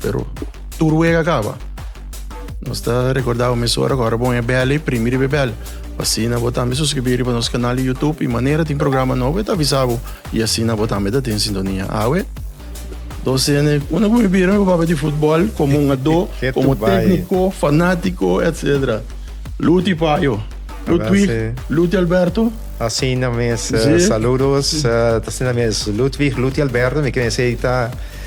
Pero tur wega kaba. Nos ta rekordá bo mes ora ku ora bo e bèl ei, primi riba e bèl. Asina bo tambe suskribí riba nos kanal di Youtube i manera tin programa nobo e ta avisá bo i asina bo tambe ta den sintonia. Awe dos hende unda ku mi bira mi papá di futbòl komo un adó, komo tékniko, fanátiko etsetera. Luti Payo, Ludwig, Luti Alberto. Asina mes, saludos. Ta asina mes Ludwig, Luti Alberto, mi kere mesei ta.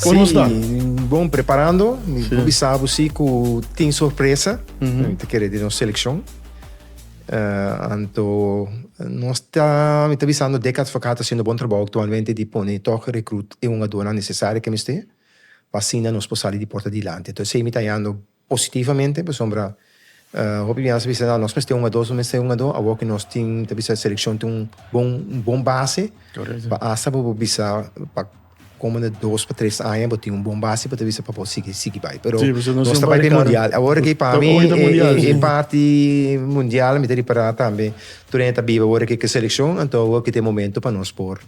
Kon nos ta? Sí, bon preparando. Mi por bisa bo sí ku tin sorpresa mi ta kere di nos selekshon. Anto nos ta, mi ta bisando Deka Advocaat ta hasiendo bon trabou aktualmente di pone tòg rekrut i hungadónan nesesario ke mester pa asina nos por sali di porta dilanti. Entonces esei mi ta hayando. positivamente pasobra hopi bia nos ta bisa nan nos mester un ado nos mester un ado awor ki nos tin ta bisa seleccion tin un bon un bon base pa asta pa bo bisa pa comende dos pa tres aña bo tin un bon base pa ta bisa pa bo sigui sigui bai pero nos ta bai den mundial awor aki pa mi e parti mundial mi ta ripara tambe tur hende ta biba awor aki ke seleccion anto awor aki ta e momento pa nos por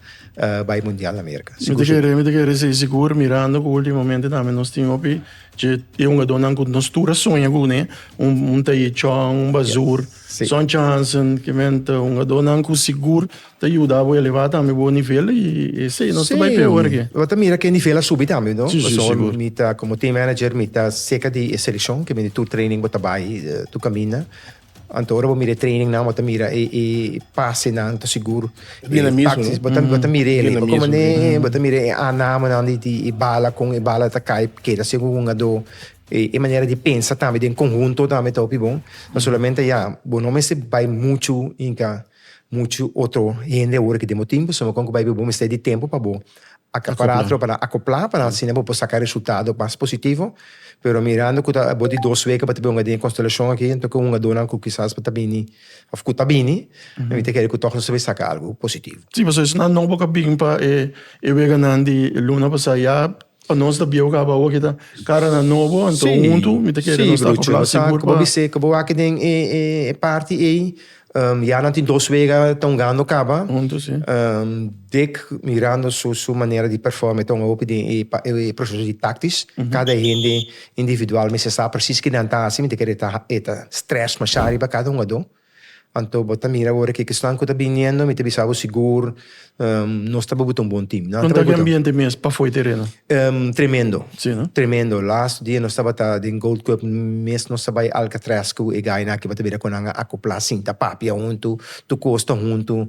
bai mundial America sigur sigur. Mi ta kere sigur mirando ku ultimomente tambe nos tin hopi Dje hungadónan ku nos tur a soña ku un'é, un ta e Chong, un Bazur, Son Johnson, ke men ta hungadónan ku sigur ta yuda bo elevá tambe bo nivel i esei nos ta bai peor ke. Bo ta mira ku e nivel a subi tambe no, pasobra mi ta komo team manager mi ta serka di e selekshon, ke mi di tur training bo ta bai, tur kaminda, Anto ora bo mira e training nan bo ta mira e e pase nan ta sigur bina e taxis bo ta bo ta mira el bo komo ne bo ta mira e anamo nan di di bala kon e bala ta kai keda así ku un ado e e manera di pensa tambe den konhunto tambe ta hopi bon no solamente ya bo no mester bai muchu hinka Muchu otro hende awor ke den bo timpo so kon ku bai bo mester di tempu pa bo akapará tro para akoplá para asina bo por saka resultado mas positivo pero mirando ku ta abor di dos wek ku bo ta wunga den e konstelashon aki anto ke wungadonan ku kisas bo ta bini òf ku ta bini mi ta kere ku tòg nos ta bin saka algu positivo. Sí, pasobra esnan nobo ku a bin pa e weganan di luna pasá ya Pa nos ta bieu caba awo kita caranan nobo anto hunto mi ta kere nos ta habla así por caba. Sí, broer, caba bisé den e party ey ya nan tin dos wega ta hungando caba. Hunto, sí. Dick mirando su manera di perform e ta hunga hopi den e proceso di tactisch. Cada hende individual mester sa precies kinan ta haci, mi ta kere e ta stress masha riba cada hungador. Anto bo ta mira ora ke esnan ku ta biniendo, mi ta bisa bo sigur nos ta buguta un bon tim. Nan ta buguta. Konta di ambiente mes pafoi tereno? Tremendo. Si no? Tremendo. Lastu dia nos tabata den Gold Cup, mes nos a bai Alcatraz ku e gainan aki tabata bira ku nan a akopla sinta papia huntu, tur kos ta huntu.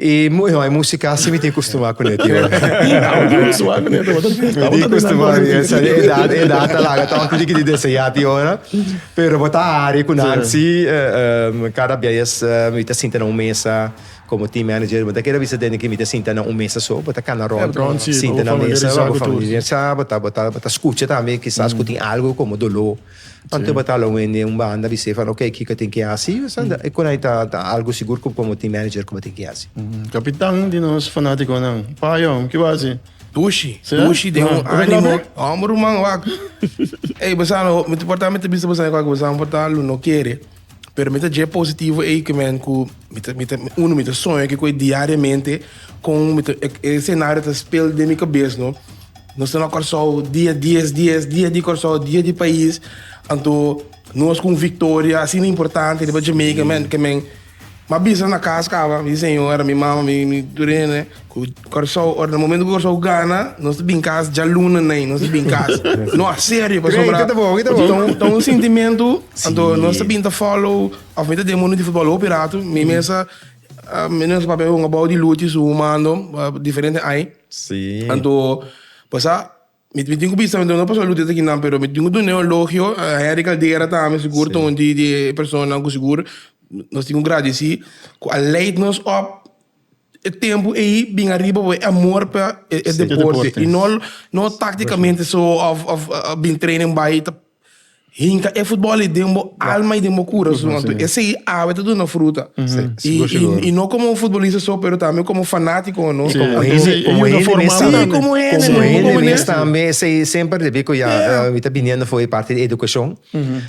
E no, e musika si mi tin kustumá kuné, tio. Amo tin kustumá kuné, tio. Mi tin kustumá, esa edat, e edat ta laga tòg tin diki di deseá tin ora. Pero bo ta hari ku nan si, kada bies mi ta sinta na un mesa komo team manager, bo ta kere bisa tende ku mi ta sinta na un mesa so, bo ta kana rònt, sinta na mesa, bo ta familiarisá ku tur. Bo ta, bo ta skucha tambe kisas ku tin algu komo doló. Anto e batala un hende un banda di sefa oke kiko tin ki hasi esanda e konai ta algo sigur ku komo tin manager ku bo tin ki hasi. Kapitan di nos fanatikonan Payon ki bo hasi? Pushi pushi den un animo homber ruman wak ey bosa mi ta porta mi ta bisa bosa ey wak bosa mi porta lo no kere. Pero mi ta dje positivo ei ke men ku mi ta mi ta uno mi ta soño ke koe diariamente kon mi ta e senario ta spel den mi kabes no nos ta na Kòrsou dia dies dies dia di Kòrsou dia di pais anto nos ku un victoria asina importante riba Jamaica men ke men M'a bisa na cas caba mi señora, mi mama, mi mi turene cu Corsou ora na momento cu Corsou gana nos ta bin cas djaluna nai nos ta bin cas no a serio pasobra ta un sintimento anto nos ta bin ta follow of mi ta den mundo di futbal hopi ratu mi mesa mi no esaki papia a hunga bao di luchi su humando diferente ai anto pasa. Mi tin cu bisa, mi ta duna Pastor Luther esaki nan, pero mi tin cu duna e elogio a Henry Caldera tambe, sigur ta un di e personanan cu sigur nos tin cu gradici, cu a leid nos op e tempo ey bin ariba por e amor pa e deporte, y no tacticamente so of a bin training bay ta. Hinka e futbol ei den bo alma i den bo kurason. Anto esei awe ta duna fruta. I no komo un futbolista so, pero tambe komo fanatikonan. I komo hende, komo hende mes tambe. Si, komo hende. Komo hende mes tambe. Esei semper debí ku ya mi ta biniendo for e parti di edukashon.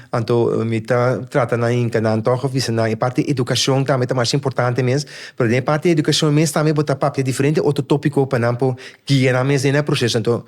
Anto mi ta trata nan hinka nan tòg òf bisa nan e parti di edukashon tambe ta masha importante mes. Pero den e parti di edukashon mes tambe bo ta papia diferente otro tópiko pa nan por guia nan mes den e proseso. Anto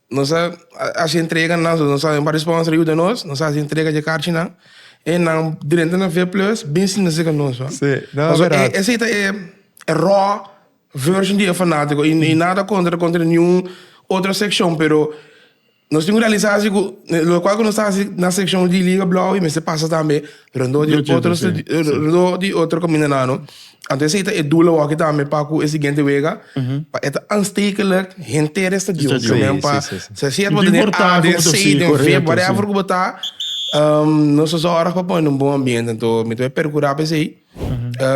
Nos a hasi entrega nan so nos a bai pa sponsor yuda nos, nos a hasi entrega dje karchinan e nan drenta na V Plus bin sinta seka nos. Sí, nan a berat. Esei ta e raw version di e fanatiko i nada kontra kontra niun otro sekshon pero nos tin un realisasi ku lokual ku nos ta hasi na sekshon di Liga Blauw i mester pasa tambe Rondó di otro rondó di otro caminanano anto esei ta e dula waki tambe pa cu e siguiente wega pa e ta aanstekelijk henter e stadion ta men pa ta siat bo den e a den c den v whatever cu bo ta nos ta zorg pa pone un bon ambiente anto mi ta wea percura pa esei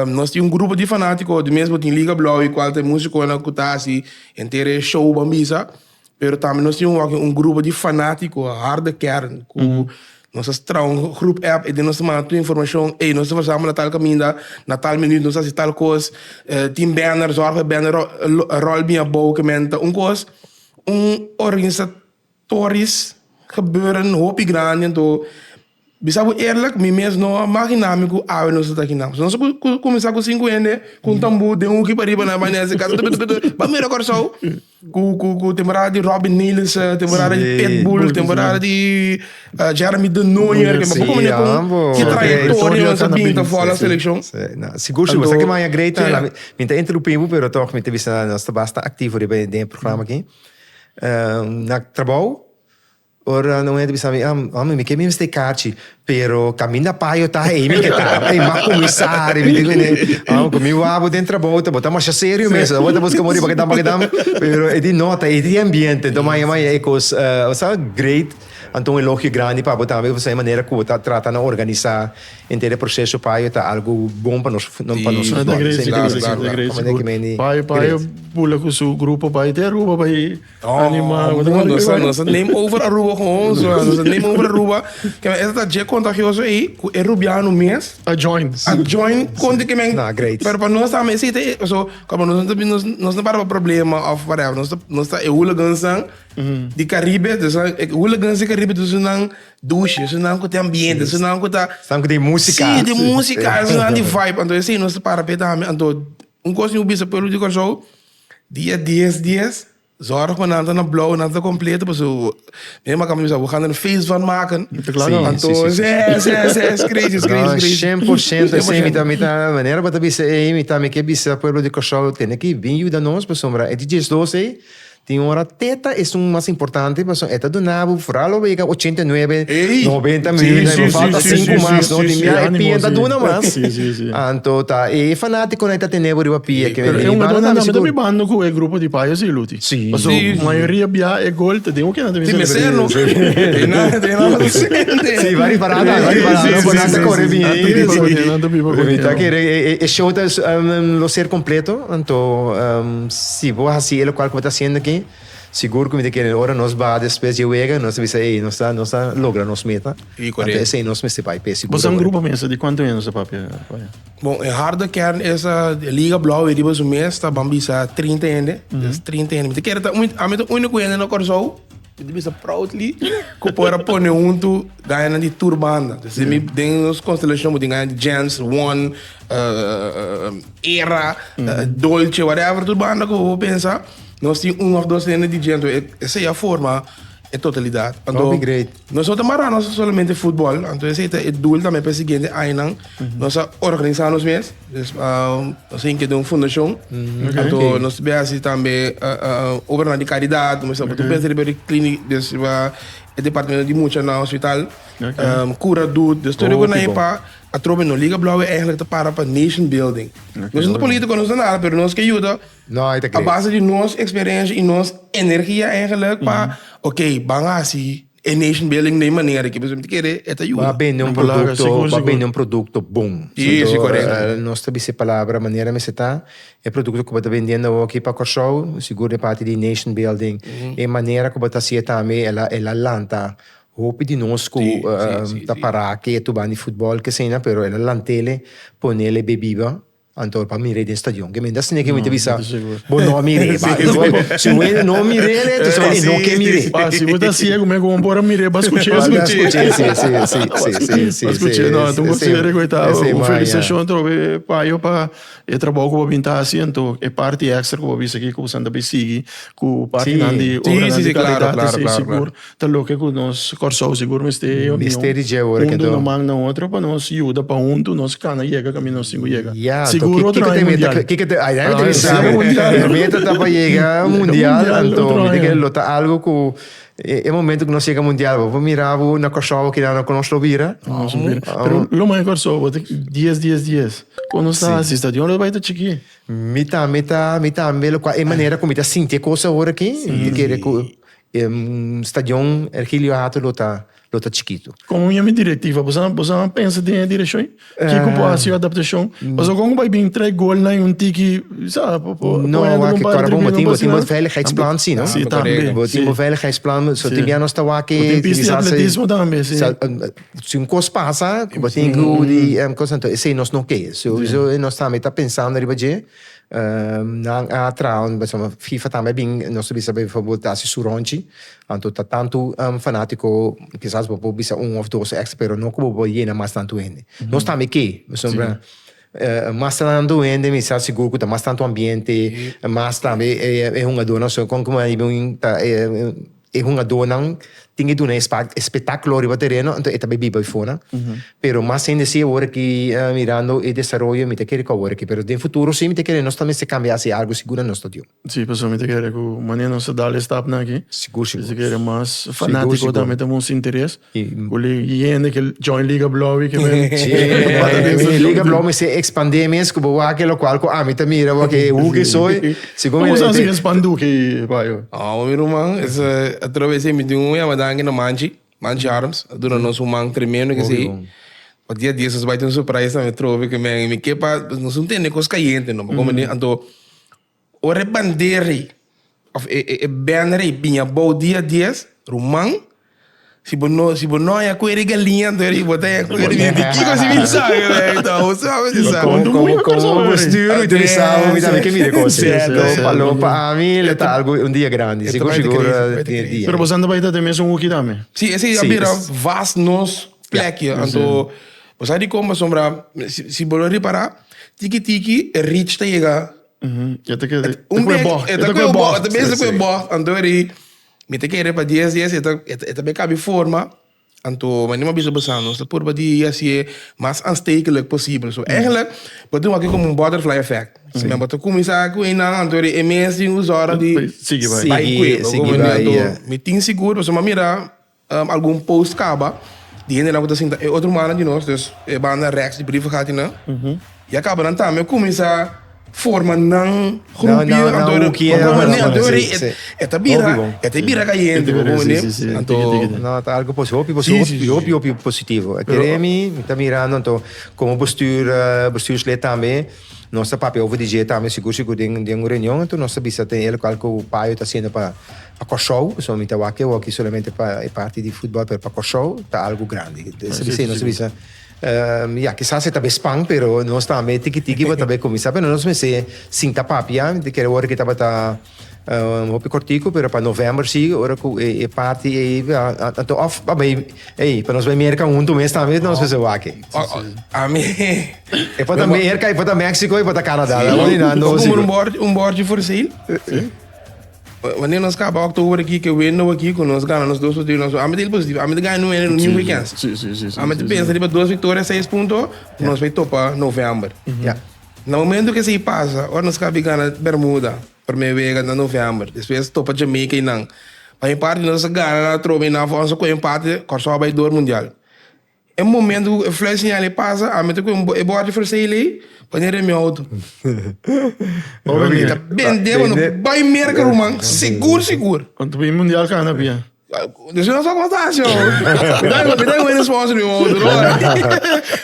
nos tin un grupo di fanatico di mes bo tin liga blauw e cual ta e musiconan cu ta haci henter e show ban bisa. Pero tambe nos tin un wak un grupo di fanatiko, harde kern, ku nos a traha un grup app ei den nos ta manda tur informashon, ey nos ta versamba na tal kaminda, na tal minüt nos ta hasi tal kos, tin bèner, zòrg pa e bèner ròl biñ abou kementa. Un kos, un organisatoris gebeuren hopi grandi anto. Bisa bo eerlijk, mi mes no a maginá mi ku awe nos a ta aki nan. Nos a kuminsá ku sinku hende ku un tambú den huki pariba nan a bani hasi kasa tupitupitup, pa mira Kòrsou ku temporada di Robin Nielissen, temporada di Pitbull, temporada di Jeremy de Nooijer, ke papú kominee kon ki trayektoria nos a binta for la selekshon. Sigur, sigur. Sa ki maya Grey ta? Mi ta interrumpí bo, pero tòg mi ta bisa nos ta basta aktivo riba den e programa aki. Nan trabou. Ora nan hende bisa mi, ah, hombre, mi ke mi mester kachi, pero kaminda payo ta ei mi ke ta, ei ma kuminsari, mi tin ku ne, ah, ku mi wawbo den trabou ta bo ta masha serio mes, tabata buska muri pakadam pakadam, pero e di nota, e di ambiente, enton maya maya e kos, bo sa, great, anto un elogio grandi pa bo tambe pasobra e manera ku bo ta trata nan organisa enter e proseso payo ta algu bon pa nos, pa nos futbol, esei mi ta bisa asina, ta great, sigur, payo payo bula ku su grupo bai te Aruba bai. Animal. Mwen ta kon nosa, nosa neem over Aruba gewoon. So, nosa neem over Aruba. Ke men esta ta je contagioso ei, ku e Rubiano mes. A join. A join konti ke men. Na, great. Pero pa nos tambe si te, so, como nos no nos, nos no para pa problema of whatever. Nos ta, nos ta e hooligans nan di Caribe. Dus nan, e hooligans di Caribe dus nan douche, dus nan ku te ambiente, dus nan ku ta. Esnan ku den música. Sí, den música, esnan di vibe. Anto e sí, nos ta para p'e tambe. Anto, un kos niu bisa pueblo di Kòrsou. Dia dies dies zorg cu nan ta na blauw nan ta completo pasobra cu mi a cami bisa bo gana un feest van maken antoes yes yes yes crazy is crazy is crazy cien por ciento esey mi ta mi ta manera bo ta bisa ey mi ta mi ke bisa pueblo di Kòrsou tene ki bin yuda nos pasobra e dj Slows ey tin ora teta es un mas importante pasobra e ta duna bo foral lo wega ochenta y nuebe noventa miljoen ey bo falta sinku mas tin bia e pia ta duna mas. Anto ta e fanatico na ta tene bo riba pia ke mi bini banda ta mi sigur. Mi ta bando ku e grupo di payo si Luti. Si. Paso mayoria bia e gol ta den oke nan ta bin celebra. Ti mi seno. E nan e nan lo sente. Si wari para ta wari para ta no nan ta kore bini. Nan ta biba ku nan nan ta biba ku. Mi ta kere e show ta lo ser completo anto si bo hasi e lokual ku bo ta hasiendo aki sigur ku mi ta kere ora nos ba despues di e wega nos ta bisa ey nos ta nos ta logra nos meta. Ante esei nos mester bai p'e seguro. Bo sa un grupo mester di kuantu hende nos ta papia ora? Bon, e harde kern esa di Liga Blou e riba su mes ta ban bisa trinta hende. Des trinta hende mi ta kere ta un, ami ta uniko hende na Kòrsou, mi ta bisa proudly, ku por a pone huntu gañanan di tur banda. Des mi den nos konstelashon bo tin gaña di Jens, Won, Era, Dolce, whatever tur banda ku bo por pensa, nos tin un òf dos hende di djentro. Esei a forma e totalidat. Anto. Nos no ta mará nos solamente futbol, anto esei ta e doel tambe pa e siguiente añanan. Nos a organisá nos mes, dus nos a inkeda un fundashon, anto nos bai hasi tambe obranan di karidat, nos mester ta pensa riba klínik, dus riba e departamento di mucha na hospital, kura dut, dus tur e kunan ei pa atrobe. No Liga Blauwe eigenlik ta para pa nation building, nos no ta polítiko, nos no ta nada, pero nos ke yuda. No, e ta great. A base di nos experiencia y nos energia eigenlijk pa ok ban haci e nation building den e manera aki. Pues mi ta kere e ta yuda. Ba bende un producto, ba bende un producto bon. Si, si, correcto. Anto nos ta bisa e palabra manera mester ta. E producto cu bo ta bendiendo awo aki pa Corsou, sigur den parti di nation building. E manera cu bo ta haci e tambe e la, e la lanta hopi di nos cu ta para aki e tuban di football, kesaina, pero e la lantele, ponele bibiba. Anto pa mir'e den stadion. Ke menta sneaky mi ta bisa bo no mir'e ba. Si bo no mir'e ne entonces bo no ke mir'e. Ba si bo ta siegu me komo por a mir'e ba skuch'e esaki. Ba skuch'e si si si si si si. Ba skuch'e no anto bo sigue rekoitá. Un felisitashon trobe e payo pa e trabou ku bo bin ta hasi anto e parti extra ku bo bisa aki ku bo san ta bay sigui ku partinan di obranan di kalidad esei sigur. Ta loke cu nos Kòrsou sigur mester e union huntu un man na otro pa nos yuda pa huntu nos cana yega cami nos tin cu yega. Sigur otro aña mundial. Mi meta ta pa yega mundial anto mi tin cu lo ta algo cu e momento cu nos yega mundial bo por mira bo na Kòrsou aki nan cu nos lo bira. Pero lo mas di Kòrsou bo ta dies dies dies. Con nos ta hasi stadion lo ta bai ta chiki. Mi tambe mi tambe locual e manera cu mi ta sinti e cosa aworaki mi ta kere cu E stadion Ergilio Hato lo ta lo ta chikitu. Kon yami direktiva bo sa bo sa a pensa den e direkshon ei? Kiko por hasi adaptashon? Pasobra kon ku bai bini tres golnan en un tiki sa bo bo No, a wak e kòrda bo bo tin bo tin bo veiligheidsplan si no? Si tambe si. Bo tin bo veiligheidsplan so tin bia nos ta wak e Bo tin pista di atletismo tambe si. Sa si un kos pasa bo tin ku di kos anto esei nos no ke. Sowieso nos tambe ta pensando riba dje. Nan a trao, pasobra fifa tambe a bin, nos ta bisa pa e favor ta hasi su ronchi, anto ta tantu fanatico, kisas bo por bisa un of dos extra pero no ku bo por yena mas tantu hende. Nos tambe ke, pasobra mas tantu hende mi sa sigur ku ta mas tantu ambiente, mas tambe e hungadornan so kon ku mei bin ta E hungadónan tin ke duna e spetákulo riba tereno, anto e ta bai biba bai fona. Pero mas hende si awor aki mirando e desaroyo mi ta kere ku awor aki. Pero den futuro si mi ta kere nos ta mester kambia hasi algu sigura nos ta diu. Si, pasobra mi ta kere ku mane nos ta dal e stapnan aki. Sigur sigur. Mi ta kere mas fanátiko ta mete un interes. Kuli e hende ke join Liga Blowi ke men Sim, Liga Blowi mi se ekspandé mes ku bo wak e lokual ku ami ta mira bo ke hu ke soi. Komo bo sa si espandu ki bayo? Oh mi ruman, otro bes mi tin un yamadá kina Manchi, Manchi Arms, a duna nos un man tremendo ke sei. Pa dia dies nos bai tin un surprise tambe trobe ke men mi ke pa nos un tende kos kayente no, bo komo di anto. Ora e bandera ei of e banner ei bini abou dia dies, ruman, si bo no si bo no haña ku e di galiña anto e di bo ta haña ku e di di kiko si mi sa ke wei ta bo sa bo si sa. Komo komo komo bo stuer ita mi sa bo mi tambe ke mire kos ei so palou pa ami lo ta algu un dia grandi sigur sigur e dia. Pero bosa anto bai ta te mes un hoeki tambe? Si esei a bira vast nos plek ei anto bo sa di kon pasobra si bo lo ripara tiki tiki e reach ta yega. E ta kere Un ku e bèk, bò. e ta ku e bò, e ta bese ku e bò. Anto eri mi ta kere pa dies dies e ta e ta be kabi forma. Anto manera mi a bisa bo sa nos ta purba di hasié mas aanstekelijk posibel. So èigelik bo ta wak komo un butterfly effect. Si men bo ta kuminsá ku einan anto eri e mes tin us òrda di Sigui bai. bai kue. Bo komo anto mi tin sigur pasobra mi a mira. Algun post kaba di hendenan ku ta sinta e otro mannan di nos, dus e banda Rex di Brief Hatinan, ya kaba nan tambe kuminsá forma nan grupio. Nan hoekie. Anto bo mende, anto bo mende e ta bira, e ta bira kayente, bo mende. Anto. No, ta algu pos, hopi pos, hopi, hopi, hopi positivo. Kere mi, mi ta mirando anto komo bestuur, bestuurslid tambe, nos ta papia over di dje tambe, sigur, sigur den den un reunion, anto nos ta bisa te el lokal ku Paio ta haciendo pa. Pa Kòrsou, pasobra mi ta wak eo aki solamente pa e parti di futbòl, pero pa Kòrsou ta algu grandi. Nos a bis'é, nos a bisa, ya, kisas e ta be span, pero nos tambe tiki tiki bo ta be kuminsá. Pero nos mester sinta papia, mi ta kere ora ku e tabata un hopi kòrtiku, pero pa novèmber si, ora ku e e parti ei anto òf pa bai, ei, pa nos bai Merka huntu mes tambe nos mester wak. Ami, E por ta Merka, e por ta Mèksiko, e por ta Kanadá. Ora di nan, nos si bo. Komo un bòrd, un bòrd di forseil. Wanneer nos kaba oktober aki ke window aki ku nos gana nos dos partido nos ami ta hil positivo ami ta gana nu winner ni weekends ami ta pensa riba dos victoria seis punto ku nos bai topa november ya na momento ke esei pasa ora nos kaba gana bermuda prome wega na november despues topa jamaica y nan pa mi parti nos a gana atrobe y nan for a su ku empate Kòrsou a bai dor mundial. E momento cu e fly señal ey pasa, ami ta cu e borde fresei el ey pa den remi auto. Oca que ta bende mano, bay merca ruman, segur segur. Con ta bay mundial cana pia. Despues nos ta conta así oh. Mi ta mi ta win sponsor mi auto no ora.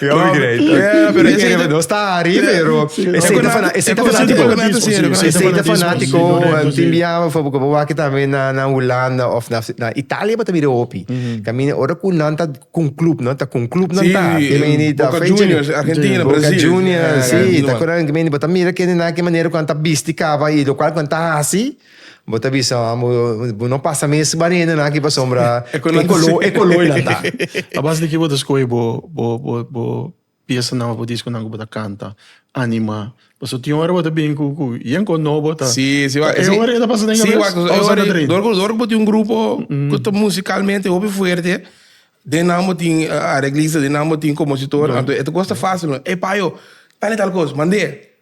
Yo mi grei. Yeah, pero ese ese no está ari, pero ese ese fana ese ese fanático. Ese ese fanático, tin biaba fo porque bo waki también na na Holanda of na na Italia bo ta mira hopi. Camina ora cu nan ta con club, ¿no? Ta con club, ¿no? Sí, ta. Y me ni ta Boca fecha ni- Juniors, Argentina, Boca Brasil. Juniors, Ah, sí. no. Ta correndo que me ni bota mira que ni na que manera cuando ta bisti cava y lo cual cuando ta así, bota bisa, ah, mo- mo no pasa mes barreno na que pa sombra. E color, e color la ta. A base de ki bo ta skohe bo bo bo bo Piasanan of disconan cu bo ta canta, anima. Pasobra tin ora bo ta bini cu yenco nobo ta. Sí, sí, waak. E ora e ta pasa den cabes? Sí, waak. Of sa ta dren? Dor cu, dor cu bo tin un grupo cu ta musicalmente hopi fuerte, den nan bo tin areglista, den nan bo tin compositor, anto e ta custa facil. Ey, payo, tal y tal cos, mand'é.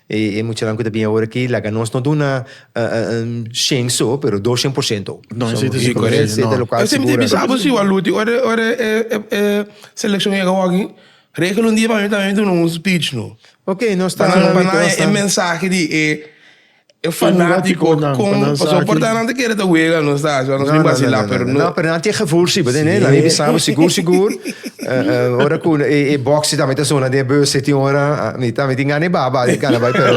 E e muchanan cu ta bini awor aki laga nos no duna shen so, pero dos shen por ciento. No, esei ta seguro. Rico Esei ta local Esei mi ta segura. bisa bo si Waluti ora e ora e e e seleccion yega awaki regel un dia pa mi tambe mi ta duna un speech no. Ok, nos ta Panan pa nan e e mensahe di e e fanatico Fanaticonan, con pa nan sa paso aki. por ta nan ta kere ta wega no sa asina nos No, bin no, no, vacila no, pero no, no, no, pero nan tin e gevoel si, bo tende? Nan bin bisa bo sigur sigur. Ora ku e boxi tambe ta sona den bus, tin ora mi tambe tin gana e baba di kanabai, pero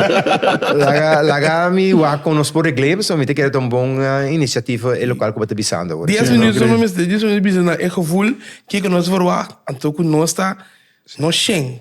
laga laga mi wak kon nos por regl'e, pasobra mi ta kere ta un bon inisiativ e lokal ku bo ta bisando ora. Dies minuut no mester, dies minuut bisa na e gevoel kiko nos verwagt, anto ku nos ta nos shen.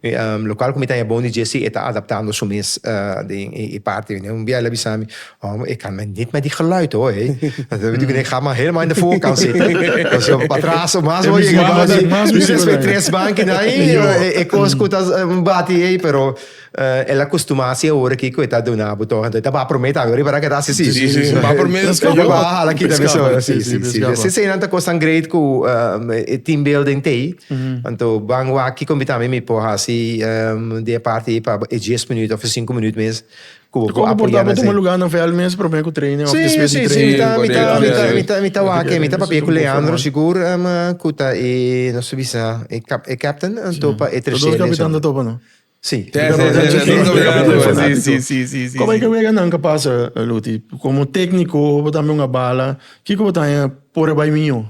E lokal ku mi ta hebon di Jesse e ta adaptando su mes den e parti. Un bia el a bisa mi, Homber, e kamba net mai di geluid hoor. He bedoel ku e kamba helemaal in de voorkant zitten. Pasobra pa atraso mas bo yega bouki. Mi mester spera tres banki na ahi. E kos ku ta bati ei. Pero el a kustumá si awor aki ku e ta duna bo tòg. Anto e ta baha promé tambe. Riba ta keda así si. E baha promé i e baha hala kita. Si, si. Seinan ta kosnan great ku e team building t'ei. Anto ban wak kiko mi tambe mi por hasi di e parti ei pa e dies minuut of e sinku minuut mes ku bo por apoyá nan esei. Kon ku por ta pa tuma lugá nan vèl mes promé ku training of despues di training? Si, si, si, mi ta, mi ta wak ei, mi ta papia ku Leandro sigur ku ta e nos ta bisa e captain anto pa e tercer. Tur dos kapitan ta topa no? Sí. Te ta pasa chi Te ta pasa chi fanático. Sí, sí, sí, sí, Como sí. e ke wega nan ka pasa, Luti? Como técnico, bo tambe un a bala. Kiko bo ta haña por a bai mió?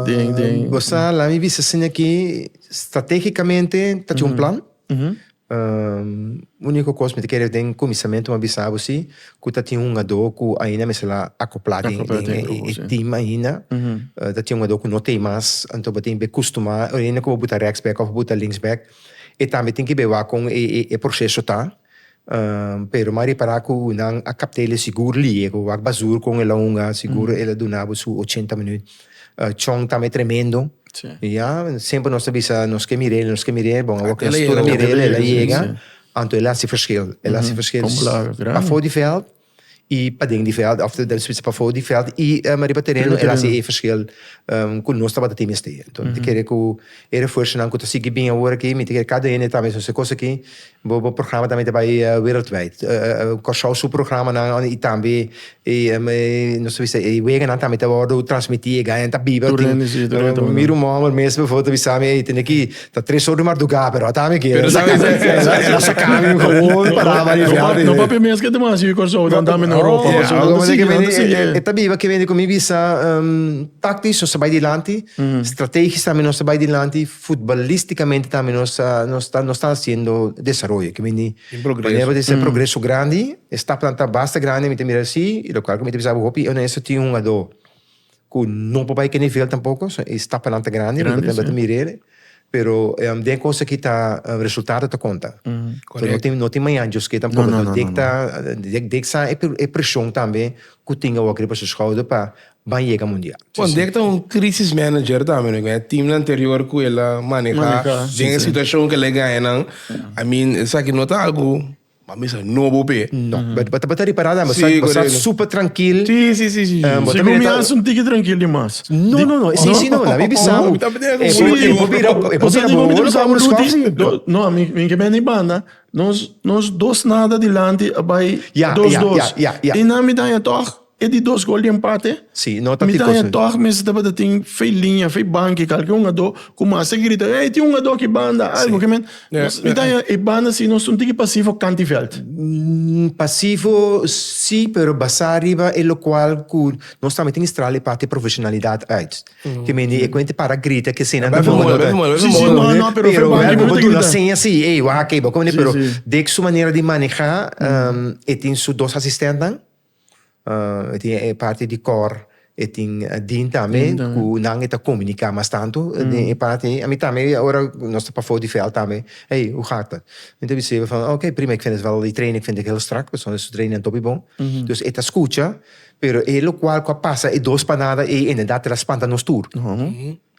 Den, den. Bo sa, laat mi bisa asina aki, stratégicamente ta tjin un plan. Ujú. Único cos mi ta kere den kuminsamentu mi a bisa bo sí, ku ta tjin un hugadó ku ainda mester la akoplá den Akoplá den den e grupo, e sí. team ainda. Ujú. Ta tjin un hugadó ku no t'ei mas, anto bo tin be kustumá, oriente ku bo buta reksbek òf bo buta linksbek, E tambe tin ki be wak kon e proseso ta, pero mari para ku nan a kaptele sigur liego wak basur kon e longa, sigur el a duna bo su ochenta minüt. Chong tambe tremendo, ya, semper nos ta bisa nos ke mir'é, nos ke mir'é, bon awor ku nos tur a mir'é el a yega, anto el a hasi ferskil, el a hasi ferskil pafó di vèld. i paden di veld of den switse pafo di veld i riba tereno el hasi e verschil ku nos tabata tin mester hasi. Enton ta kere ku e refuersonan ku ta sigui bin awor aki mi ta kere kada hende ta mesonse kos aki bo bo programa tambe ta bai wereldwijd. Kòrsou su programanan i tambe nos ta bisa e weganan tambe ta wòrdu transmití e gana ta biba tin mi rumomer mes befo ta bisami ey tende ki Ta tres or di marduga, pero ata mi kier. Pero sa mi sa kier. E la saka mi gewoon para ba di fiado. No papi mi eske te mas yu korso dan dami no ropa. Ando si ando si. E ta biba ke bini ku mi bisa taktis nos ta bai dilanti, strategis tambe nos ta bai dilanti, futbolistikamente tambe nos ta nos ta nos ta hasiendo desaroyo ke bini. Tin progreso. Manera di ser progreso grandi, e stapnan ta basta grandi mi ta mira si, lokal ku mi ta bisa bo hopi onesto tin hungadó. cu no por bay ke nivel tampoco, so e stapanan ta grandi, mi patronan ta mira ere, pero den cos aki ta resultado ta conta, so no tin maña djosque tampoco, no dek ta, dek sa e presion tambe cu tin awor riba su schouder pa ban yega mundial. Bon, dek ta un crisis manager tambe, no? Cu e teamnan anterior cu el a maneha den e situacion cu el a gananan, I mean esaki no ta algo Ma mester a nobo p'e. No, bo ta ripará nan, bo sa bo sa super trankil. Sí, sí, sí, sí, sí. Si ku mi a sinti ki trankil dimas. No, no, no, e sin si no, la bibi sa bo. E por bira, e por bira bo, bo lo sa bo lo skosi. No, mi mi ke bende i banda, nos nos dos nada dilanti a bai dos dos. I nan mi daña tòg. E di dos gol di empate? Sí, no ta Mi tin ta cos. e tòg mester tabata tin fei liña, fei banki, kalke hungadó ku mas ta grita, Hey, tin hungadó ki banda! Algu ke men. Ja, Nos, mi ta ja. haña e banda si nos un tiki pasivo kanti vèlt. Mm, pasivo sí, pero basá riba e lokual ku nos tambe tin strala e parti profeshonalidat uit. Ke men di e kuente para grita ke esena ta Bèf moda, moda, bèf moda, bèf Sí, sí, moda. no, no, pero fei banki Pero mi ta duna grita. seña si, ey, wak akei, bo kòmende, Sí, pero sí. dek su manera di manehá, ehm, e tin su dos asistentnan, e tin e parti di kòr, e tin din tambe ku nan e ta komuniká mas tantu den e parti ei. Ami tambe ora nos ta pafou di vèlt tambe, hey, hoe gaat het? Mi ta biseba van, ok, prima, ik vind het wel, die training vind ik heel strak, pasobra su training topi bon. Dus e ta skucha, pero e lokual ku a pasa e dos panada ei inderdaad el a spanta nos tur.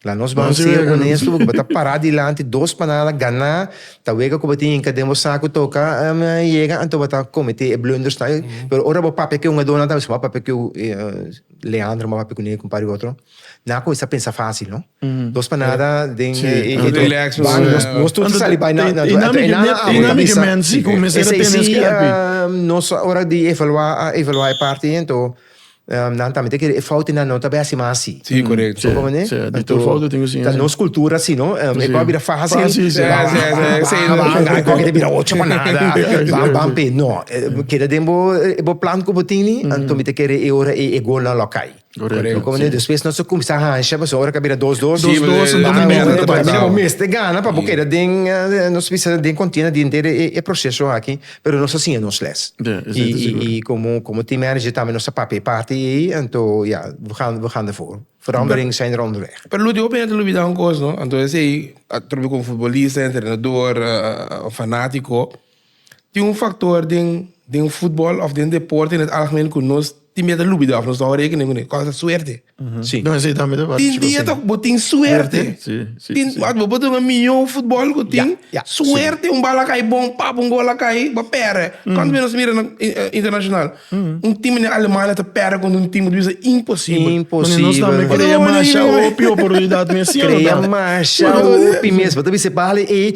La nos ban Nos ser honesto porque bo ta pará dilanti dos panada ganá ta wega cu bo tin yinka den bo sa cu toca um, yega anto bo ta comet'é e blunders nan. Mm -hmm. Pero ora bo papia cu e un adona tabes cu bo a papia cu uh, Leandro, bo a papia cu Neco, un par di otro, nan a cuminsa pensa facil, no? Mm -hmm. Dos panada den Sí, e, e, anto- e- Relax, ban, eh, nos, nos tur ta Anto- sali bai na, na, e- e na mi- na- na- e na mi que bisa. men si comienza a Ese tener sí, escape. ah, nos ora di evaluar, a evaluar e parte ento, Nan tambe ta kere e foutnan no ta besi mas asi. Sí, korekto. Bo kontende? Sí, di tur foutnan tin ku sin. Ta nos kultura así no, e por a bira fásil. Fásil, sí. Bai koke ta bira ocho pa nada. Ban ban p'e. No, keda den bo e bo plan ku bo tin ni, anto mi ta kere e ora e golnan lo kai. Korekto. Bo kontende? Despues nos a kuminsá hansha, pasobra e ora ku a bira dos dos. Dos dos, anto mi mester ta bai. Bo mester gana pa bo keda den, nos bisa den kontienda di henter e proseso aki. Pero nos a siña nos les. I komo team manager tambe nos ta papia e parti ei, anto ya, we gaan, we gaan dervoor. Verandering zijn er onderweg. Pero lo último hopi hende lo bida un kos, no? Anto esei, atrobe ku un futbolista, un entrenador, un fanátiko, tin un faktor den, den futbòl òf den deporte den algemeen ku nos. Tin bia ta lubida of nos no rekenen ku ne kos ta suerte. Sí. No, esei tambe ta Tin bia ta bo tin suerte. Sí, sí, tin, sí. Bo por ta un miño futbol ku tin yeah, yeah. suerte, sí. un bal a kai bon, pap, un gol a kai, bo pere. Mm. Kant bia nos mira na internashonal, mm. un tim na Alemania ta pere kontra un tim ku ta bisa imposibel. Imposibel. Nos tambe krea masha opi oportunidat mes siña. Krea masha opi mes. Bo ta bisa bale ei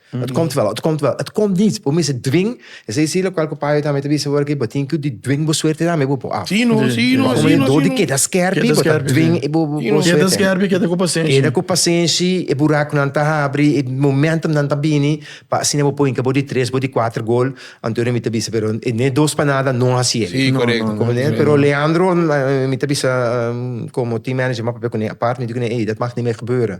Et komt wel, et komt wel, et komt niet. Bo mester dwing. Esei si lokual ku paio tambe ta bisa awor aki, bo tin ku di dwing bo suerte tambe bo por af. Si no, si no, si no, si no. Keda skèrpi, bo ta dwing bo suerte. Keda skèrpi, keda ku pasenshi. Keda ku pasenshi, e burakunan ta habri, e momentumnan ta bini, pa asina bo por hinka bo di tres, bo di kuater gol. Antonio mi ta bisa, pero n'e dos pa nada no hasi el. Si, korekto. Comprende? Pero Leandro mi ta bisa, komo team manager, m'a papia ku n'e apart, mi di ku n'e, ei, dat mag ni mer gebeuren.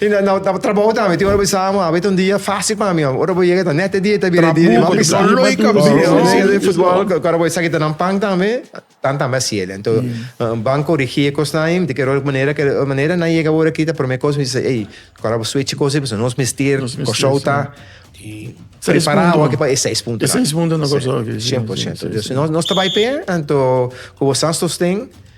Y na na na trabaho tambe tin ora bo bisa amo, abit un dia fácil pa mi, ora bo yega ta net e dia ta bira e dia di Trabuco, mamisa. don Loy ka Bo bisa amo. yega den futbol cu ora bo esaki ta nan pan tambe, tan tambe hasi el. Anto ban corigi e cos nain, di keror manera ke ora manera nan yega ora aki ta prome cos mi bisa ey, cu ora bo switch e cos ey, pasobra nos mester Nos mester, Kòrsou sí. ta Seis prepará punto. awor pa e seis punto. E seis punto na Kòrsou aki, sí, sí, sí, sí. Nos nos ta bai p'e, anto cu bo san sosten,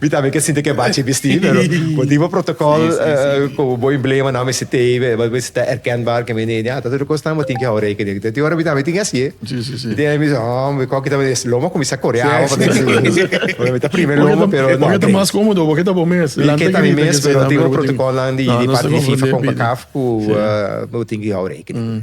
Mi tambe ke sinti ke bachi bisti pero bo tin bo protokol ku bo emblema nan mester tei be bo mester ta erkenbaar ke mi nei den a tur kos nan bo tin ke hou rekening den tin ora mi tambe tin ke asi'e mi tin mi se hom mi koki tambe lo mi a kuminsá kore awa pasobra mi si pasobra mi ta prime lo mi pero no ken mi ke ta mi mes pero tin bo protokolnan di di parti di fifa konkakaf ku bo tin ke hou rekening.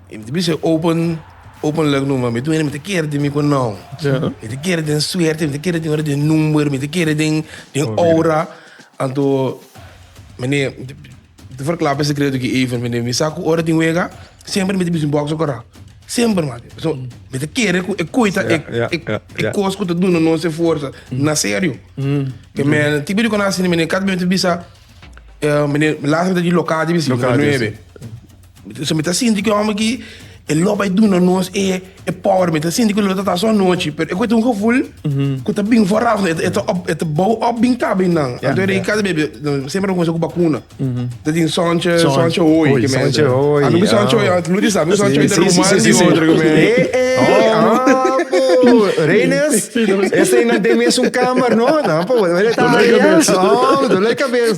Y mi ta bisa open open look numa mi ta wini mi ta kere tin mi cu nom mi ta kere tin suerte mi ta kere tin ora tin number mi ta kere tin ora anto mene mi ta verkla pa e secreto aki even mene mi sa cu ora tin wega semper mi ta bisa un boxer cora semper mati pasobra mi ta kere cu e coy ta e cos cu ta duna nos e forsa na serio pe mene tipo di cona asina mene cada bey mi ta bisa mene last mi ta di locadia mi ta si number nuebe. So mi ta sinti ku e hòmber ki e lo bai duna nos e power. Mi ta sinti ku lo ta ta aso anochi, pero e ku ta un gevul ku ta bin for afne. E ta e ta bou òp bin ka bin nan. Anto e rei Kasa Bebe semper a kuminsá ku bakuna. Ta tin sòntje, sòntje hooi ke men ta. Anu ku sòntje hooi, ant Lourdes sabi ku sòntje hooi ta ruman di otro ke men. Hey, hey, apo! Reines, esei nan den mes un kàmber, no? Nan apo, duele kabes. Aw, duele kabes.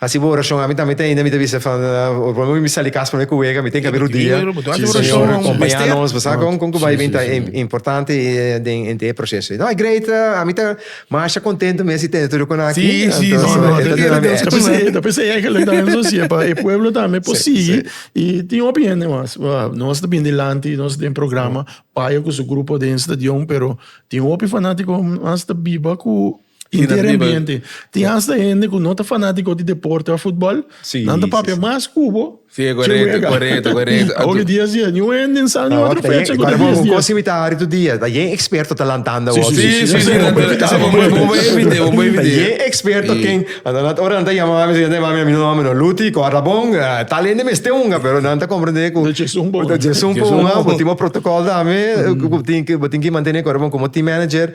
Hasi bo orashon ami tambe ta hende mi ta bisa fan ora por mi sa di kas prome ku wega mi ten ke abi rudia Señor acompaña nos pues a kon kon ku bai bin ta importante den hende e proceso no a great ami ta masha contento mes di tene tur ekon aki pa e pueblo tambe por sigui y tin hopi hende mas nos ta bini dilanti nos den programa paya ku su grupo den stadion pero tin hopi fanatico mas ta biba ku Inter ambiente. Tin asta hende ku no ta fanatiko di deporte of futbol, nan ta papia mas ku bo. Si, e korekto, korekto, korekto. Awor e dia si a niun hende in San Juan otro fecha ku ta dies dies. Kosi mi ta hari tu dia, ta yen eksperto ta lantanda awor. Si, si, si, si, bo por evit'é, bo por evit'é, bo por evit'é. Ta yen eksperto ken, ora nan ta yama mami, si nan ta yama mami, a mi no mami no, Luti, kòrda abon, tal hende mester hunga, pero nan ta komprendé ku. Ta Djesun pa un. Ta Djesun pa un, bo tin bo protokòl tambe, ku tin, bo tin ki mantené kòrda abon komo team manager.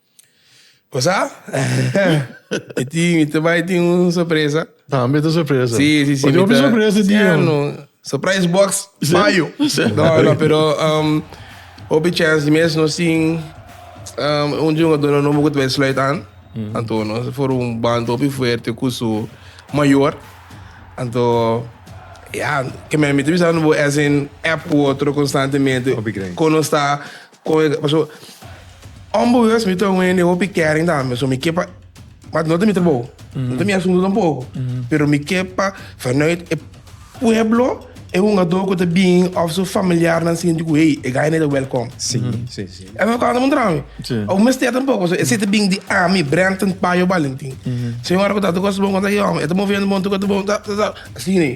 Cosa? Mi tin, mi ta bai tin un sorpresa. Tambe ta sorpresa. Si, si, si. Ojo mi sorpresa di yo. No. Surprise box, mayo. No, no, pero um, hopi chance di mes no sin um, un jugador no nobo ku ta bai sluit aan. Mm. Anto no for un band hopi fuerte ku su mayor. Anto Ja, que me mete pensando bo es en app u otro constantemente. Con nos está Con e paso onbewust mi ta wende hopi kering tambe so mi ke pa but no ta mi trabou no ta mi asunto tampoco pero mi ke pa vanuit e pueblo e hungador cu ta bin of su familiarnan sinti cu hey e guy no ta welcom esnan ta canta muntra mi aun mester tampoco so ese ta bin di ami Brenton Payo Balentin señora cu ta ta cos ta bon con ta e homber e ta movendo bon ta cos ta bon ta ta ta ta asina.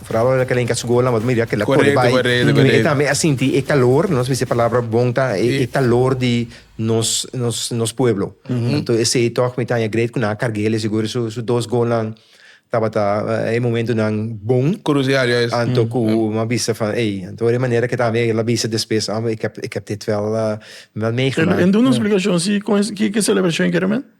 Vooral wanneer dat elenca school dan, want mira que la corre bij. Correcto, correcto, correcto. E tambe a sinti e calor, nos bisa e palabra bon ta e, e calor di nos, nos, nos pueblo. Anto esey toch mi ta haña great cu nan a carg'e el, e sigur su, su dos goalnan tabata eh, e momentonan bon. Crucial, juist. Anto cu mi a bisa van, ey, anto ora e manera que tambe el a bisa despues, ah, ik heb, ik heb dit wel, eh, wel En, meegemaakt. en doe nos explicacion si con es, ki, ki celebracion quiere men?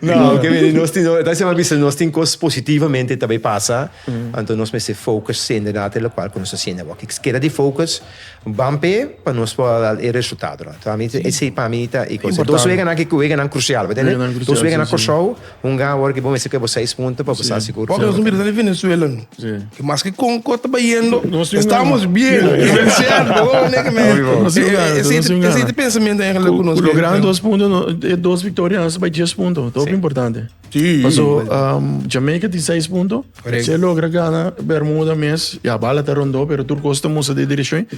No, oke mire, nos tin, ta se bisa, nos tin cos positivamente ta bay pasa, anto nos mester focus sende na te local cu nos ta sende awa. Ki keda di focus, ban pe, pa nos por a dal e resultado nan. Ta mi, esey pa mi ta e cos. Dos wega nan ki wega nan crucial, bo tende? Dos wega nan Curaçao, un gan awor ki bo mester keb bo seis punto pa bo sa sigur. Oke, nos ta mira sa di Venezuela nu. Y maske Conco ta bayendo, estamos bien. Esey pensamiento cu nos bira. Cu lo gran dos punto, e dos victoria nos ta bay dies punto. Ta hopi importante. Paso Jamaica tin seis punto, si e logra gana Bermuda mes, ya bala ta rondo, pero tur cos ta musta di direccion.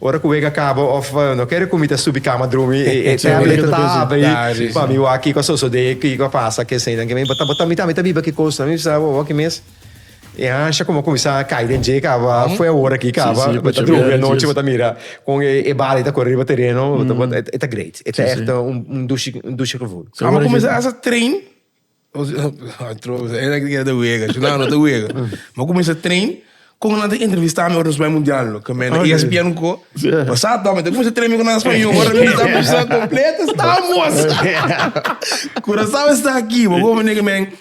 Ora ku wega kaba òf no kere ku mi ta subi kama drumi e tableta ta habri pa mi wak kiko a sosodé, kiko a pasa kesenan ke mi bo ta bo ta mi ta mi ta biba ki kos. Mi bisa bo aki mes e hansha komo a kuminsá kai den dje kaba fue e ora aki kaba bo ta drumi anochi bo ta mira kon e bala ei ta kore riba tereno bo ta bo ta e ta great e ta èfte un un dushi un dushi gevoel. Amo kuminsá hasa train. Bo cuminsa train con nan ta entrevista mi ora nos bay mundial lo caminda na ESPN un co pasado tamo ta cuminsa train mi con nan spanish ora mi ta bisa completo estamos curacao esta aki bo como nega men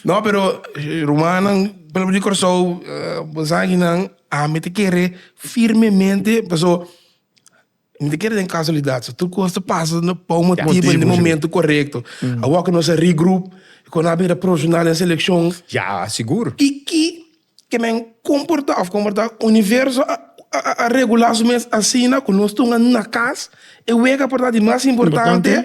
no pero rumannan palabra di curacao bo sabe kinan ami ta kere firmemente pasobra Mi ta kere den kasualidat so. Tur kos ta pasa na pau motibu en Motibu, di si. momentu korekto. Awor ku nos a regroup i ku nan a bin a profesional den selekshon, Ya, sigur. kiki ke men komportá òf komportá? Universo a a regulá su mes asina ku nos tunga na kas. E wega por ta di mas importante.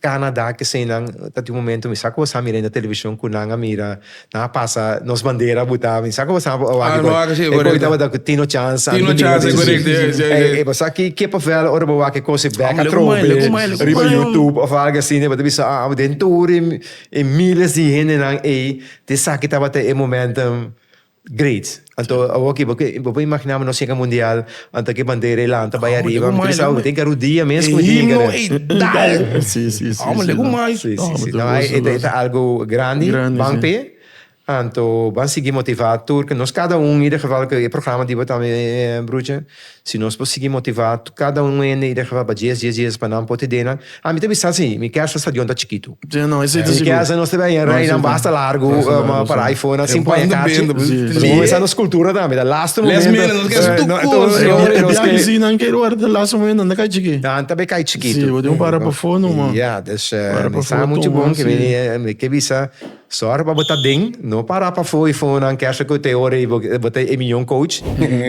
Canada ke eseinan ta tin un momento mi sa ku bo sa mira na television ku nan a mira nan a pasa nos bandera a buta mi sa ku bo sa bo wak e kos ku tabata ku Tino Chance Tino Chance korekto e bo sa ki kippenvel ora bo wak e kos e bek a trompe riba YouTube of algu asina e bo ta bisa den tur e miles di hendenan ei te sa ki tabata e momentum. Great. Anto awor aki bo por imaginá bo nos yega mundial, anto ki e bandera e lanta bai ariba, mi tabata sa tin karudia mes ku mi tin yega der. Sí, sí, sí. Amo legu mais. Sí, sí, sí. No, e ta algu grandi, ban p'e. Anto ban sigui motivá tur, nos kada un, ieder geval ku e programa di bo tambe, Bruche. Si nos por sigui motivá kada un hende i dehá papá dies, dies, dies pa nan por tedé nan, ami ta bisa sí, mi kèrs ta stadion ta chikitu. Mi kèrs nan nos ta bèi en rei nan basta largu pa rei for nan sin pon e karchi. Nos por kuminsá nos kultura tambe, ta lastu momentu. Nan ta bai kai chikitu. Ya, dus mi sa muchu bon ke mi ke bisa. Sòrg pa bo ta den, no para pafó i fonan kè sa ku ta e ora ei bo ta e mion coach.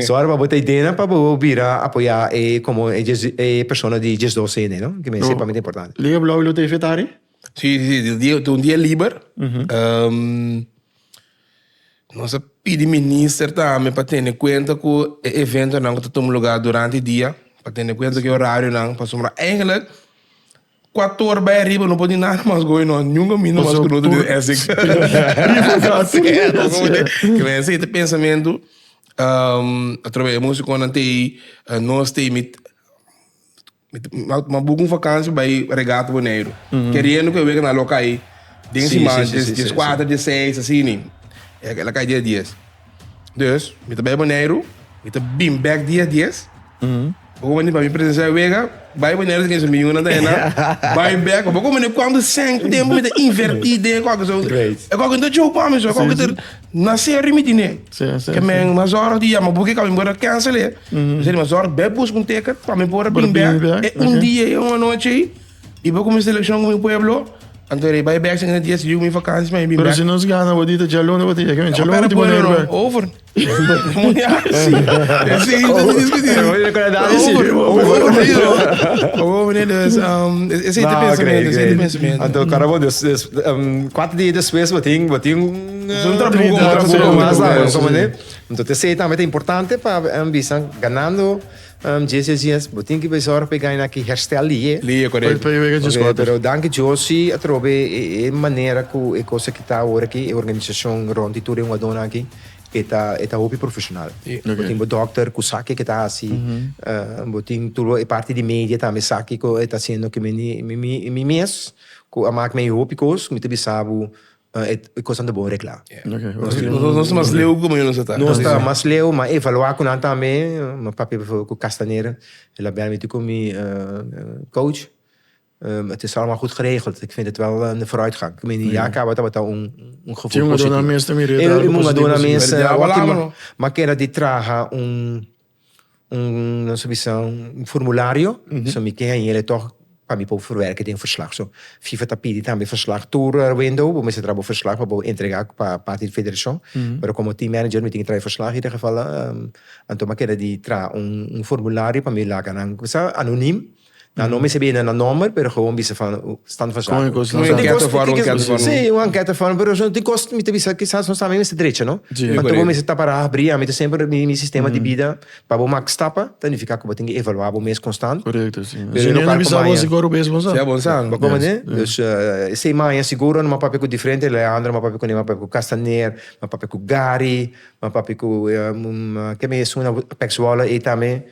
Sòrg pa bo ta dena pa bo bira apoyá e komo e dies e persona di dies dos hende no, ki mester pa mi ta importante. Liga Blou i lo ta e fetari? Si, si, si, ta un dia liber. Nos a pidi minister tambe pa tene kuenta ku e eventonan ku ta tuma lugá durante e dia, pa tene kuenta ku e orarionan, pasobra eigenlijk. Cu a tor bay ariba no por di nada mas goe no. Nunca minder mas cu noto den esik. Riba casa. Cu mensa e ta pensamento atrobes e musiconan ta ey nos ta ey mi mi buca un vakantie bay regata Boneiru. Keriendo cu e weken a loca ey den siman. Dies cuater dies seis asina. Ey a loca ey dia dies. Dus, mi ta bai Boneiru, mi ta bin bek dia dies. Bo kobandi pa mi presensia e wega, bai Boneiru si kensa mi yunan ta henda, bai bek. Bo kobandi kuantu sèn ku tempu mi ta invertí den e kòke. So, Great. e kòke no ta djou pa mi, so e kòke ta na serio mi tine. Sí, sí, Ke men sí. mas ora di yama bo ke kami por a kènsel'é. Mi ser di mas ora bèk buska un teket pa mi por a Por bin bin bèk. bèk, E un ok. dia ei, un anochi ei. I bo ku mi selekshon ku mi pueblo, anto rei bai bèk sègende dies yu mi vakansi mi bin bèk. Pero si nos gana bo di ta djalon e bo ta yega mi djalon ultimo manera pa. Over. Muña. Si mi ta diskutí. Over. Over. Dus es ei ta pensamentu es ei ta pensamentu. Anto kara bo dus dus kuater dia despues bo tin bo tin un un trabuko mas un trabuko mas anto te sei tambe ta importante pa bisa ganando. JCCS, bo tin ki bai zorg pa e gaina aki herstel di e. Di e koreto. Poi wega dje skote. Pero danki Josie atrobe e manera ku e kos aki ta awor aki, e organisashon rond di tur e hungadónan aki, e ta e ta hopi profeshonal. Bo tin bo dòkter ku sa ke ke ta hasi, bo tin tur e parti di media tambe sa kiko e ta hasiendo, ke mi mi mes ku a mak mi hopi kos, mi ta bisa bo. Ah, e cosnan ta bon regla. Nos tin un- Nos mas leu como yo nos está. Nos ta mas leu, ma evaluá cu nan tambe. Mi papia, por ejemplo, cu Castanera, el a bel mi, Toekom mi coach, het is allemaal goed geregeld. Ik vind het wel een vooruitgang. Ik meen, ja, caba tabata un gevoel Tin un positivo. aduna mes ta mira e E dragnan un aduna positivo, mes, sí. Pero ya eh, wak hablamos, ima, no? ma keda di traha un un nos ta bisa un formulario so mi tin ahí elei tog pa mi por verwerke den verslag so fifa ta pidi tambe verslag tur window bo mester traha bo verslag pa bo entrega pa parti di federashon pero komo team manager mi tin ke traha e verslag y den geval Anton Maqueda di traha un formulario pa mi laga nan kibisa anonim Nan no mester bini na nomber, pero gewoon bisa van stand van zaken. Con e cos, Con e ankèt of aron ankèt vorm. Sí, un ankèt vorm, pero tin cos mi ta bisa kisas nos tambe mester drecha, no? Sí. Anto bo mester tapa raha bri, ami ta semper mi mi sistema di bida pa bo mak stapa ta nifiká ku bo tin ke evalua bo mes konstant. Correcto, sí. Pero Si e no ningún a bisa karko bo maña. si kor bes bos. Sea bonzang, bo kòmende? Yes. Dus eh, esei maña siguro no m'a papia ku diferente Leandro, m'a papia ku Ney, m'a papia ku Castaner, m'a papia ku Gary, m'a papia ku eh, mm, ke mes una Apex Wola ei tambe.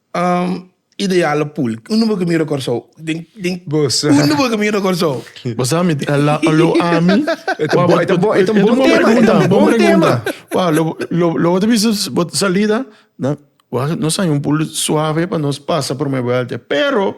Um ideal a pool. Un number cu mira Corsou. Den, den. Bosa. Un number cu mira Corsou. Bosa mi la lo ami. Eta bon, eta bon, eta bon tema, eta bon tema. Wa lo lo lo te bisa salida na wa no sa un pool suave pa nos pasa por me vuelte pero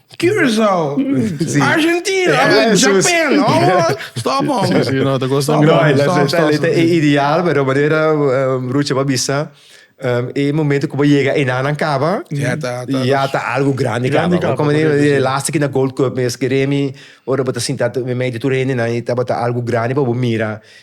Curaçao, Argentina, abo Japan, abo stop hombre. Sí, no, ta cosa Stop, grande. Lei Stop, stop, lei e ideal, pero manera um, Rucha ba bisa, um, e momento ku ba yega einan nan kaba, Ya ta- ta- ya ta algo grandi Grandi kaba. kaba, Kòm manera correcto, e sí. lastik na Gold Cup mes, ke Remy, ora bo ta sinta tu mei di tur hendenan, e tabata algo grandi pa bo mira.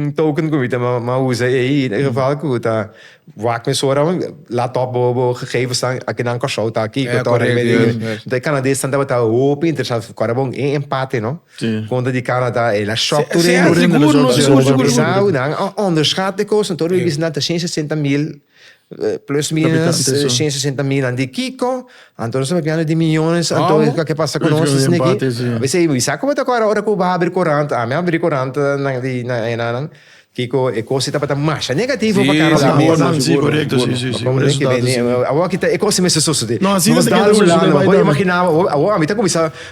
un token ku mi ta ma usa ei e geval ku ta wak mi sora un lat op bo bo gegevens nan a kinan Kòrsou ta kiko ta ora e kanadesnan tabata hopi interesá kòrda bo un empate no kontra di Kanada e la shòk tur e nan a ònderschat e kos nan tur a bisti nan ta shen sesenta mil Plus minus shen sesenta milan di kiko? Anto nos ta papiando di miyones anto kiko a ke pasa ku nos esei aki? A bese i sa ku bo ta kora ora ku bo a habri kurant? Ami a habri kurant nan di na enanan kiko e kos ei tabata masha negativo pa kara nan mesa. Si korekto si si si por esu tata si. Awor aki ta e kos ei mester sosodé. No asina ta keda sosodé bai dame. Bo imaginaba awor ami ta kuminsá.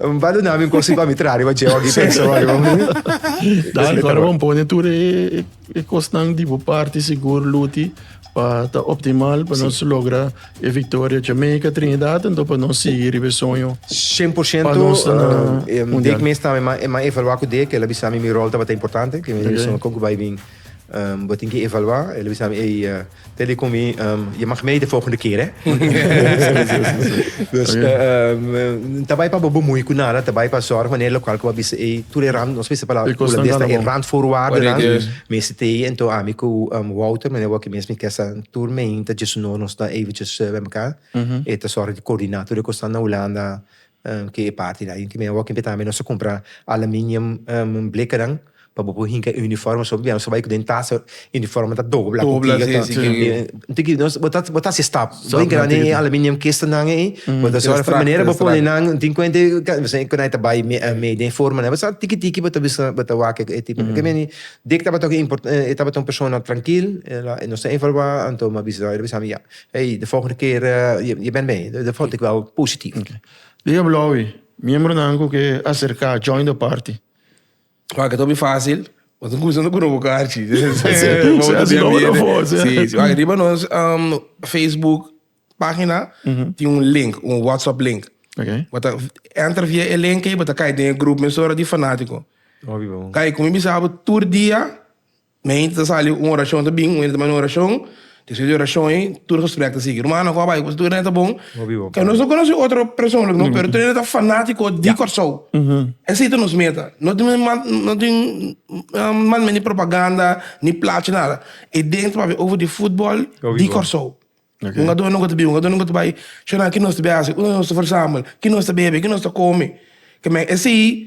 N ba duna mi un cosa y pa mi traha riba djeu aki pensa bo riba mi. Dai, kor bo pone tur e e kosnan di bo parti sigur luti pa ta optimal pa nos logra e victoria Jamaica, Trinidad ento pa nos sigui riba e soño. Cien por ciento. Pa nos ta na mundial. Dek mes tambe mi a evalua cu dek el a bisa mi mi rol tabata importante, cu mi a bisa mi con cu bay bin bo tin ki evalua, el a bisa mi ey Te di ku mi, Je mag mee de volgende keer, hè. Dus, N ta bai pa bo bemoei ku nada, N ta bai pa zòrg wanneer e lokal ku bo a bisa ei, tur e rand, nos mester e palabra Holandes ta e randvoorwaardennan, mester te ei. Anto ami ku Wouter, meneer Wouter mes, mi kesa tur meen ta dje su no nos ta eventjes bai mekaar. E ta zòrg di koordina tur e kosnan na Hulanda. Ke e parti nan. Inti mi awor kimpia tambe nos a kumpra aluminium blikanan pa bo por hinka e uniforme so pabia nos a bai ku den tasa uniforme ta dobla ku kiga ta inti ki nos bo ta hasi stap bo hinka nan den e aluminium kista nan ei bo ta sòru pa manera bo pone nan tin kuenta esei ku nai ta bai mei den forma nan bo sa tiki tiki bo ta bisa bo ta wak e tipo nan kemei Dick tabata e tabata un persona trankil nos ta evalua anto mi a bisa mi ya Hey, de volgende keer, je bent mee. Dat vond ik wel positief. Okay. Di Ablowi, miembronan ku ke aserká, join de party. Wak het obi fácil, want un gusto no kuno bokar chi. Así lo wou voor, sí. Sí, sí. Wak riba nos um, Facebook página tin un link, un WhatsApp link. Okay. Wat a enter via e link ei, wat a kai den e groep mesora di fanátiko. Obi bon. Kai, kumi bisabo tur dia, Mi ainda ta sali un orashon ta bin, un hende ta manda un orashon, despues di orashon ei tur gesprek ta sigui. Rumannan ku a bai ku tur hende ta bon, ke nos no konosi otro persoonlijk no, pero tur hende ta fanatiko di Kòrsou. Esei ta nos meta. No tin no tin manme ni propaganda ni plachi ni nada. E dens ta papia over di futbòl di Kòrsou. Un ador nunka ta bin, un ador nunka ta bai shona ki nos ta bin a hasi, ku nos ta versambel, ki nos ta bebe, ki nos ta kome. Ke men esei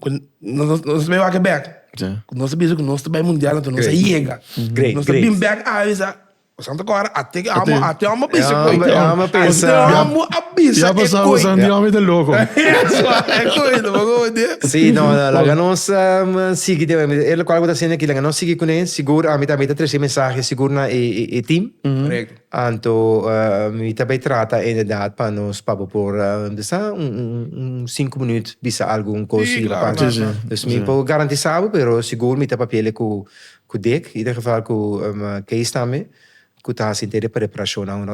cu nos ta bai wak e bek, cu nos ta bisa cu nos ta bai mundial anto nos a yega, nos ta bin bek avisa, e Santa Cora ate cu amo, ate amo a bisa cu ey, ate amo a bisa e coy, e coy lo bo odia. Sí, no, no, laga nos sigui den we, e locual cu ta haciendo aki, laga nos sigui cun'e, sigur ami tambe ta trece mensahe sigur na e team. Anto mi ta bai trata inderdat pa nos papá por bisa un sinku minüt bisa algun kosi aparte. Dus mi por garantisá bo, pero sigur mi ta papi'é ku Dick, ieder geval ku Kees tambe, ku ta hasi henter e preparashonnan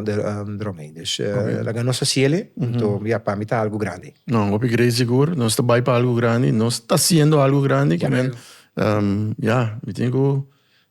ròntgen. Dus laga nos hasi el'e, anto ya, pa mi ta algu grandi. No, hopi grei sigur. Nos ta bai pa algu grandi. Nos ta hasiendo algu grandi, ku men, ya, mi tin ku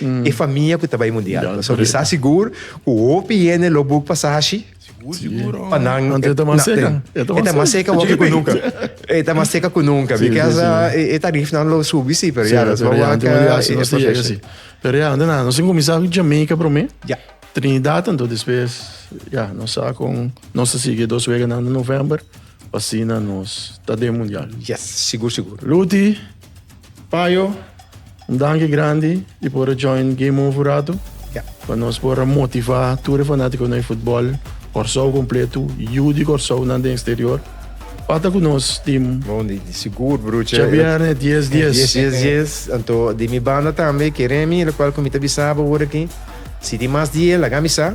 e famia ku ta bai mundial. Paso mi sa sigur ku hopi hende lo buk pasashi pa nan. Anto e ta mas seka. E ta mas seka hopi ku nunka. E ta mas seka ku nunka. Bikos e tarifnan lo subi si, pero ya nos lo wak e. Pero ya anto nan nos tin kuminsá ku Jamaica promé, Trinidad anto despues ya nos sa kon nos ta sigui e dos weganan di novèmber pa asina nos ta den mundial. Yes, sigur sigur. Luti. Payo un danki grandi di por a join Game Over ratu. Ja. Pa nos por a motivá tur e fanátikonan di futbòl Kòrsou kompletu, yu di kòrsounan den eksterior. Bata ku nos tim. Bon di sigur brucha. Djabièrnè dies dies. Dies dies dies. Anto di mi banda tambe ke Remy, lokual ku mi ta bisa bo ora aki, si tin mas di e laga mi sa.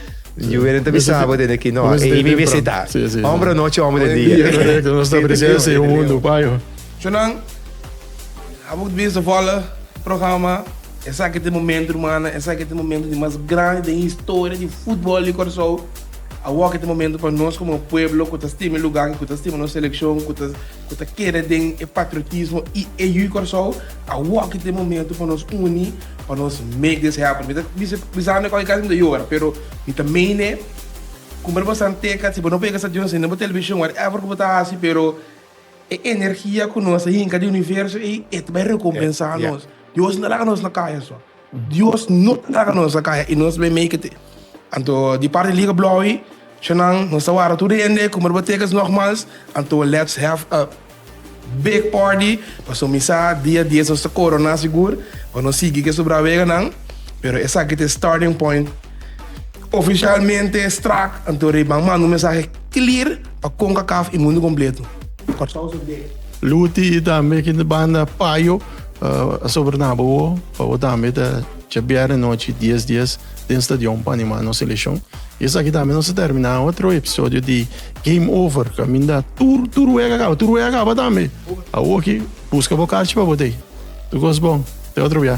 Yo era te bisabo de que no, e mi visita. Hombre noche, hombre de día. Correcto, no está presencia en un mundo payo. Chonan, abo que bisa vola programa, esa que te momento, hermana, esa que te momento de más grande de historia de fútbol de Curaçao. Awo que te momento pa nos como pueblo, que ta estima el lugar, que ta estima nos selección, que ta, que ta kere den e patriotismo y e yu Curaçao. Awo que te momento pa nos uni. pa nos make this happen mi ta bisa mi koke kasi mi ta yora pero mi ta meen'e como bo ta basa n'teca si bo no por yega stadion sin bo television whatever cu bo ta haci pero e energia cu nos ta hinca di universo ey e ta bai recompensa nos Dios no ta laga nos na caya so Dios no ta laga nos na caya y nos ta bai make it anto di parte di liga bloy. Shannan, nos ta warda tur di hende ku merbatekers nògmals, anto lèts hèv a big pàrty pa sumisá dia dies nos ta koroná sigur pa nos sigui ke subrá weganan, pero esaki ta e starting point ofishalmente strak, anto Rei Ban manda un mensahe klir pa Concacaf i mundu kompletu. Kòrsou su dek. Luti i tambe ki banda Payo a sobrenaba bo pa bo tambe ta djabièrnè nochi dies dies den stadion pa anima nos seleccion. Y esaki tambe nos a termina otro episodio di Game Over, caminda tur, tur wega acaba, tur wega acaba tambe. Awoki, busca bo carchi pa bo tei. Tu cos bon, te otro bia.